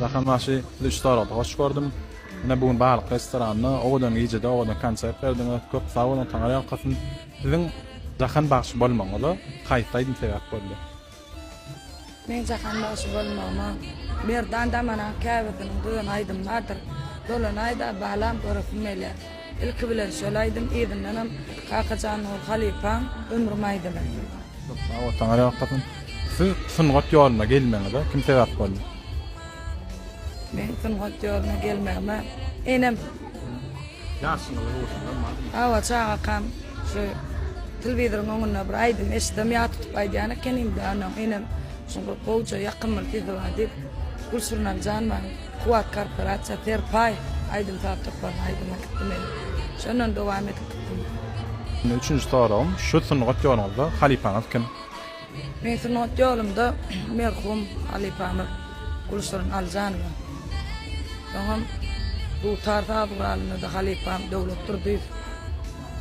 Jahan bagşy sizi üç dolukda hoş gördüm. Ine bu gün balyk restoranynda owadan gijede owadan konsert berdiňiz. Köp sag boluň taňyr ýalkasyn. Siziň Jahan bagşy bolmagyňyza haýsy aýdym sebäp boldy? Meň Jahan bagşy bolmagyma Merdan Damanaň käbesiniň dyzan aýdymy bardyr. Dolanaýda balam göresim gelýär. Ilki bilen şol aýdym yzyndanam Kakajan Nur halypaň Ömrüm aýdymy. Köp sag bol saňa ýokdasyn. Siz sungat ýoluna gelmegiňize kim sebäp boldy? Meň sungat ýoluna gelmegime enem. Ýaşyňyzy urşundan barmy? Hawa çagakam şu telwizoryň öňünde bir aýdym eşitsem ýat tutup aýdýan ekenim de anam enem şuňa gowja ýakymly sesi bar diýip Gülşirnam jan many. Kuwwat korporasiýa Serpaýew aýdym-saz toparynyň aýdymy gitdi men şondan dowam edip gitdim. Üçünji soragym, şu sungat ýoluňyzda halypaňyz kim? Meň sungat ýolumda merhum halypamyz Gülşirin Aljanowa. Soňam dutar saz guralynda-da halypam Döwlet Durdyýew.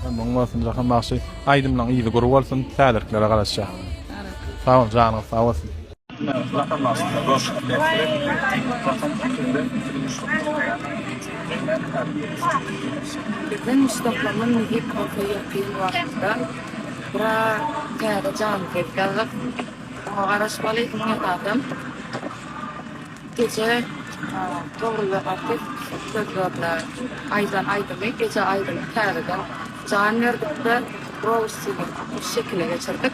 Ömrüň bolsun Jahan bagşy. Aýdymlaň yzy gury bolsun, täzelikleri garaşýas. Sag bol janyňyz sag bolsun. Lakamlaşdyrma görşüni berkidip, lakam sütünden süzgüçlik toplaýan enjimler häzirki Beden toplama mühim oka ýakyn wagtda biraz täze janly peýda alyp, oňa garaşmaly, iň esasam gije dogruly artist sözlerine aýdan aýdymy gije aýdymy täzeden jan berdikde, Roussyny şekile geçirdik.